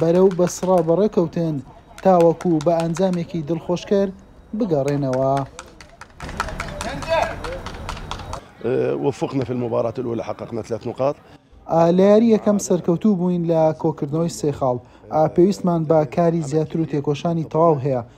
بەرەو بەسڕە بەڕێکەوتن تاوەکو بە ئەنجامێکی دڵخۆشکەر بگەڕێنەوە. وفقنا في المباراة الاولى حققنا ثلاث نقاط. لە یاری یەکەم سەرکەوتوو بووین لە کۆکردنەوەی سێ خاڵ. پێویستمان بە کاری زیاتر و تێکۆشانی تەواو هەیە.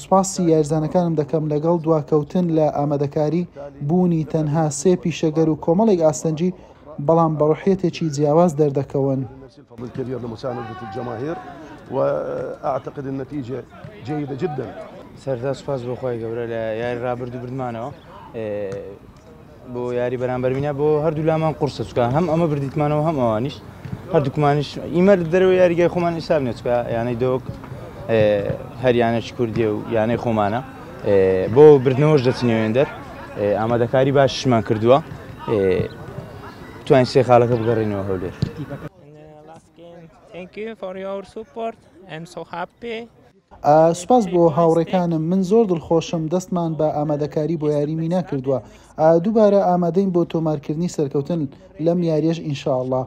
سوپاسی یاریزانەکانم دەکەم لەگەڵ دواکەوتن لە ئامادەکاری، بوونی تەنها سێ پیشەگەر و کۆمەڵێک ئاستەنگی، بەڵام بە ڕۆحیەتێکی جیاواز دەردەکەون. سەرەتا سوپاس بۆ خوای گەورە لە یاری ڕابردوو بردمانەوە. بۆ یاری بەرامبەر مینا بۆ هەردوولامان قورسە چکە هەم ئەمە بردیتمانەوە هەم ئەوانیش هەردووکمانش ئیمەر دەرەوە یاریگای خۆمان ئیساب نێچکە یانەی دۆک هەریانەش کوردی و یانەی خۆمانە بۆ بردنەوەش دەچنێوێندەر ئامادەکاری باشمان کردووە توانین سێ خاڵەکە بگەڕێنەوە هەولێر Thank you for your support. I'm so happy. سوپاس بۆ هاوڕێکانم من زۆر دڵخۆشم دەستمان بە ئامادەکاری بۆ یاری مینا کردووە دووبارە ئامادەین بۆ تۆمارکردنی سەرکەوتن لەم یاریەش ئینشاڵڵا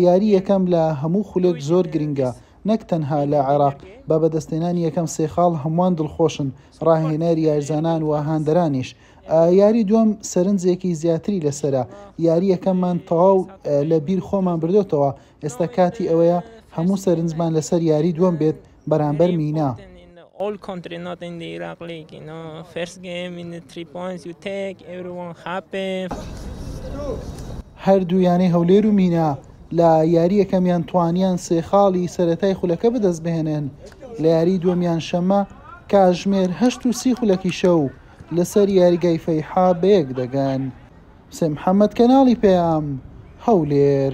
یاری یەکەم لە هەموو خولێک زۆر گرنگە نەک تەنها لە عێراق بە بەدەستێنانی یەکەم سێ خاڵ هەمووان دڵخۆشن ڕاهێنەر یارزانان و هاندەرانیش یاری دووەم سەرنجێکی زیاتری لەسرە یاریەکەمان تەواو لە بیر خۆمان بردوێتەوە ئێستا کاتی ئەوەیە هەموو سەرنجمان لەسەر یاری دووەم بێت بەرامبەر مینا. هەردوو یانەی هەولێر و مینا لە یاری یەکەمیان توانیان سێ خاڵی سەتای خولەکە بەدەست بهێنن لە یاری دووەمیان شەمە کاژمێر هەشت و سی خولەکی شەو لەسەر یاریگای فەیحا بەیەک دەگەن. حسێن محەمەد کەناڵی پەیام هەولێر